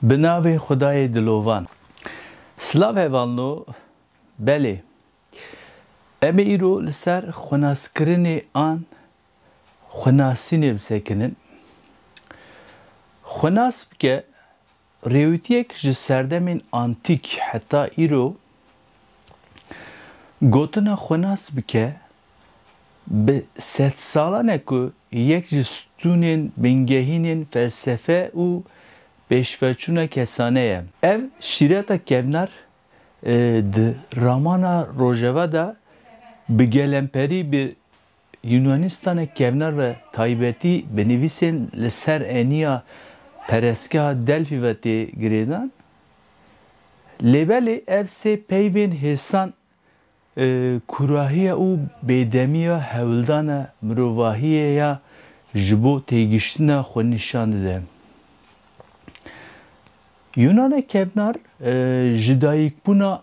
Bi navê Xwedayê Dilovan. Silav hevalno, belê. Em ê îro li ser xwenaskirinê an xwenasînê bi sekinin. Xwenas bike, rêwîtiyek ji serdemên antîk heta îro gotina xwenas bike Bi sedsalan e ku yek ji stûnên bingehînên felsefe û pêşveçûna kesane ye. Ev şîreta kevnar di ramana rojeva de bi gelemperî bi Yûnanîstana kevnar ve taybetî bi nivîsên li ser eniya perestgeha Delfî ve tê girêdan. Lê belê ev sê peyvên hêsan Kurahiya û bêdemiya hewldana mirovahiyê ya ji bo têgiştina xwe nîşan dide. Yûnana kevnar ji dayîkbûna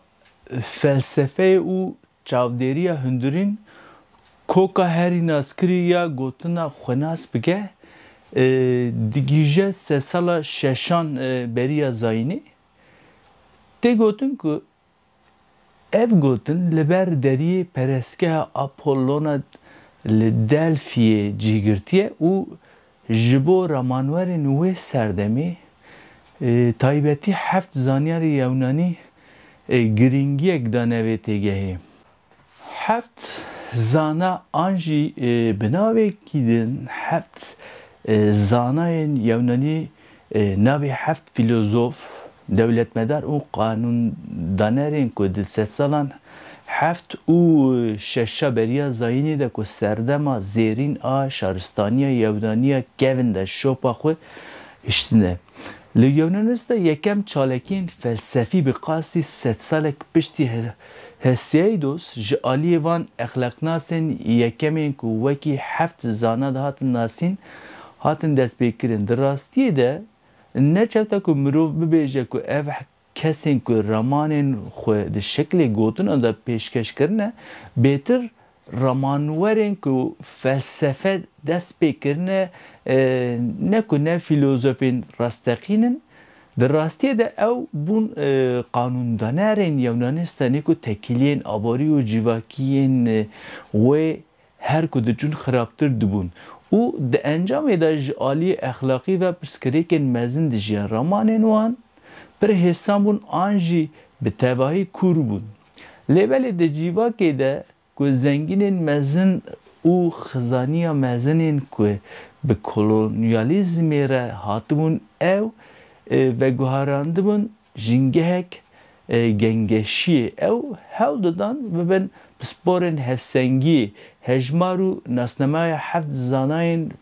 felsefeyê û çavdêriya hundirîn koka herî naskirî ya gotina xwe nas bike, digihîje sedsala şeşan beriya zayînê. Tê gotin ku Ev gotin li ber deriyê perestgeha Apollona li Delfiyê cî girtiye û ji bo ramanwerên wê serdemê taybetî heft zanyarê yewnanî girîngiyek dane vê têgehê. Heft zana an jî bi navekî din heft zanayên yewnanî navê heft fîlozof, dewletmedar û qanûndanerên ku di sedsalan heft û şeşa beriya zayînê de ku serdema zêrîn a şaristaniya yewnanî ya kevin de şopa xwe hiştine. Li Yewnanis de yekem çalakiyên felsefî bi qasî sedsalek piştî Hesiaidos ji aliyê van exlaqnasên yekemên ku wekî heft zana dihatin nasîn, hatin destpêkirin. Di rastiyê de ne çew te ku mirov bibêje ku ev kesên ku ramanên xwe di şeklê gotinan de pêşkeş kirine, bêtir Ramanwerên ku felsefe dest pê kirine ne ku ne fîlozofên rasteqîn in, di rastiyê de ew bûn qanûndanerên Yewnanistan ê ku tekîliyên aborî û civakî yên wê her ku diçûn xirabtir dibûn û di encamê de ji aliyê exlaqî ve pirsgirêkên mezin dijiyan. Ramanên wan pir hêsan bûn an jî bi tevahî kûr bûn. Lê belê di cîvakê de ku zengînên mezin û xizaniya mezinên ku bi kolonyalîzmê re hatibûn ew veguherandibûn jîngehek gengeşiyê, ew hewl didan bibin pisporên hevsengiyê, hejmar û nasnameya heft zanayên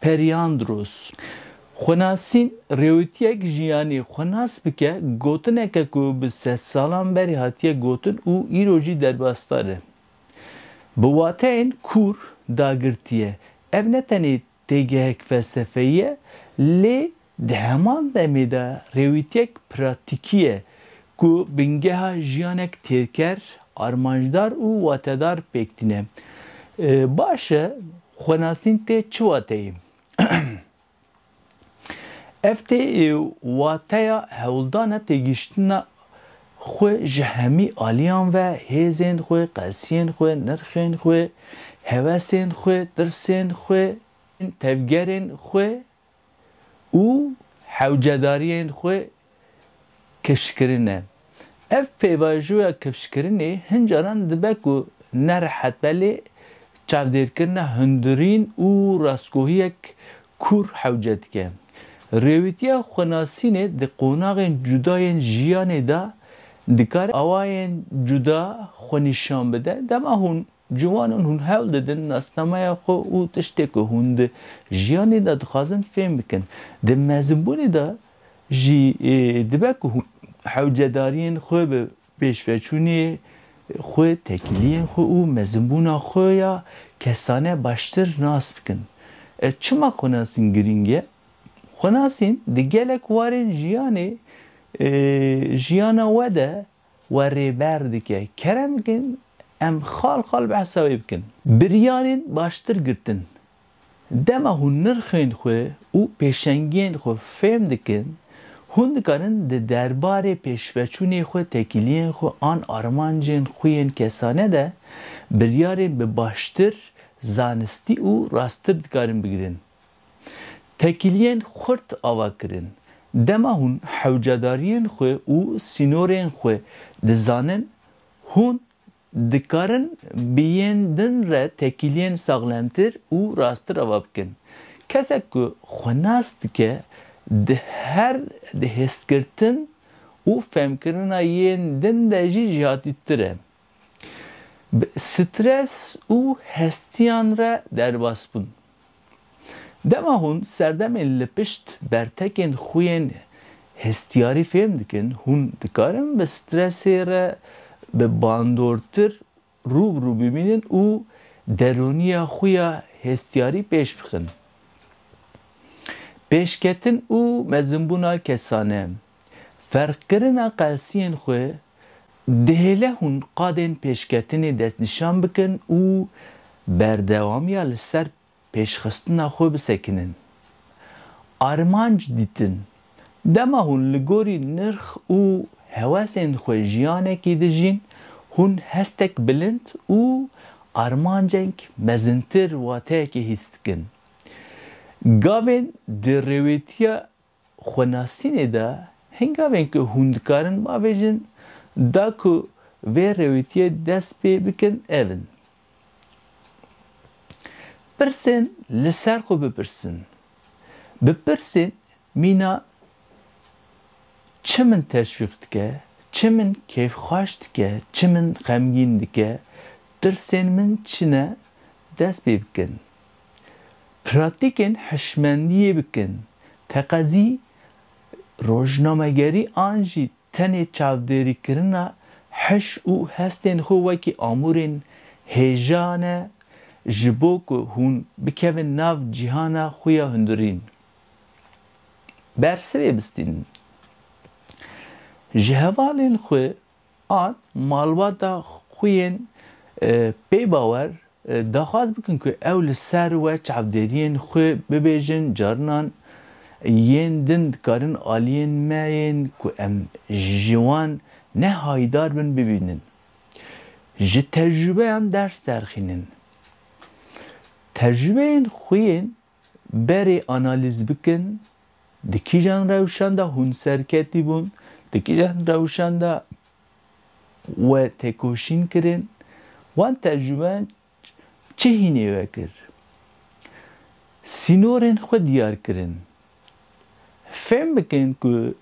Periandros, xwenasîn, rêwîtiyek jiyanê xwe nas bike, gotineke ku bi sed salan berî hatiye gotin û îro jî derbasdar e. Bi wateyên kûr dagirtiye. Ev ne tenê têgehek felsefeyî ye, lê Di heman demê de rêwîtiyek pratîkî ye ku bingeha jiyanek têrker, armancdar û watedar pêk tîne. Baş e xwenasîn tê çi wateyê? Ev tê wateya hewldana têgihiştina xwe ji hemî aliyan ve, hêzên xwe, qesiyên xwe, nirxên xwe, hevesên xwe, tirsên xwe, tevgerên xwe û hewcedariyên xwe kifşkirine. Ev pêvajoya kifşkirinê hin caran dibe ku nerehet be lê çavdêrkirina hundirîn û rastgohiyek kûr hewce dike. Rêwîtiya xwenasînê di qonaxên cuda yên jiyanê de dikare awayên cuda xwe nîşan bide, dema hûn Ciwanan hûn hewl didin nasnameya xwe û tiştê ku hûn di jiyanê de dixwazin fêm bikin. Di mezinbûnê de jî dibe ku hûn hewcedariyên xwe bi pêşveçûnê xwe, tekîliyên xwe û mezinbûna xwe ya kesane baştir nas bikin. Çima xwenasîn girîng e? Xwenasîn di gelek warên jiyanê jiyana we de we rêber dike. Kerem bikin em xal xal behsa wê bikin. Biryarên baştir girtin. Dema hûn nirxên xwe û pêşengiyên xwe fêm dikin, hûn dikarin di derbarê pêşveçûnê xwe, tekîliyên xwe an armancên xwe yên kesane de biryarên bi baştir, zanistî û rasttir dikarin bigirin. Tekîliyên xurt ava kirin. Dema hûn hewcedariyên xwe û sînorên xwe dizanin, hûn dikarin bi yên din re tekîliyên saxlemtir û rasttir ava bikin. Kesek ku xwe nas dike, di her di hêzkirtin û fehmkirina yên din de jî jihatîtir e. bi stres û hestiyan re derbas bûn. Dema hûn serdemên li pişt bertekên xwe yên hestiyarî fêm dikin, hûn dikarin bi stresê re bi bandortir rû bi rû bimînin û derûniya xwe ya hestiyarî pêş bixin. Pêşketin û mezinbûna kesane. Ferqkirina qelsiyên xwe, dihêle hûn qadên pêşketinê destnîşan bikin û berdewamiya li ser pêşxistina xwe bisekinin. Armanc dîtin, dema hûn li gorî nirx û hewesên xwe jiyanekî dijîn, hûn hestek bilind û armancek mezintir wateyekê hîs dikin. Gavên di rêwêtiya xwenasînê de hingavên ku hûn dikarin bavêjin da ku vê rewîtiyê dest pê bikin ev in, Pirsên li ser xwe bipirsin, Bi pirsên mîna çi min teşwîq dike, çi min kêfxweş dike, çi min xemgîn dike, tirsên min çi ne dest pê bikin. Pratîkên hişmendiyê bikin. Teqezî rojnamegerî an jî tenê çavdêrîkirina hiş û hestên xwe wekî amûrên hêja ne ji bo ku hûn bikevin nav cîhana xwe ya hundirîn. Bersivê bistînin. Ji hevalên xwe An malbata xwe yên pêbawer daxwaz bikin ku ew li ser we çavdêriyên xwe bibêjin, carinan yên din dikarin aliyên me yên ku em ji wan ne hayîdar bin bibînin. Ji tecrûbeyan ders derxînin. Tecrûbeyên xwe yên berê analîz bikin di kîjan rewşan de hûn serketî bûn, di kîjan rewşan de we têkoşîn kirin, wan tercûmen çi hînê we kir? Sînorên xwe diyar kirin. Fêm bikin ku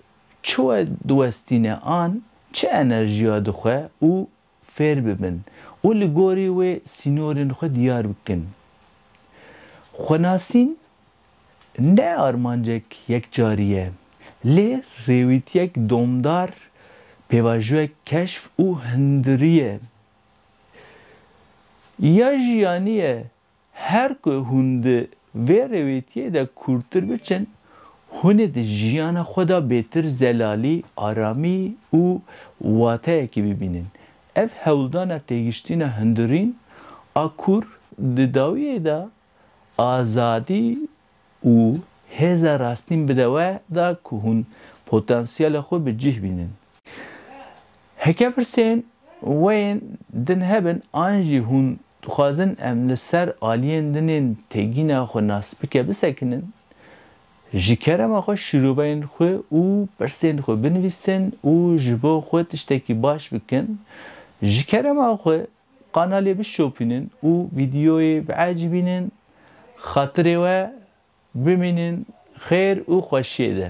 çi we diwestîne an çi enerjiya dixwe û fêr bibin û li gorî wê sînorên xwe diyar bikin. Xwenasîn ne armancek yekcarî ye, lê rêwîtiyek domdar, pêvajoyek keşf û hundirî ye. Ya jiyanî ye Her ku hûn di vê rêwêtiyê de kûrtir biçin, hûn ê di jiyana xwe de bêtir zelalî, aramî û wateyekî bibînin. Ev hewldana têgiştîna hundirîn a kûr di dawiyê de azadî, û hêza rastîn bide we da ku hûn potansiyela xwe bi cih bînin. Heke pirsên we yên din hebin an jî hûn dixwazin em li ser aliyên din ên têgîna xwe nasbike bisekinin, ji kerema xwe şîroveyên xwe û pirsên xwe binivîsin û ji bo xwe tiştekî baş bikin, ji kerema xwe Kanalê bişopînin û vîdyoyê biecîbînin, xatirê we bimînin xêr û xweşiyê de.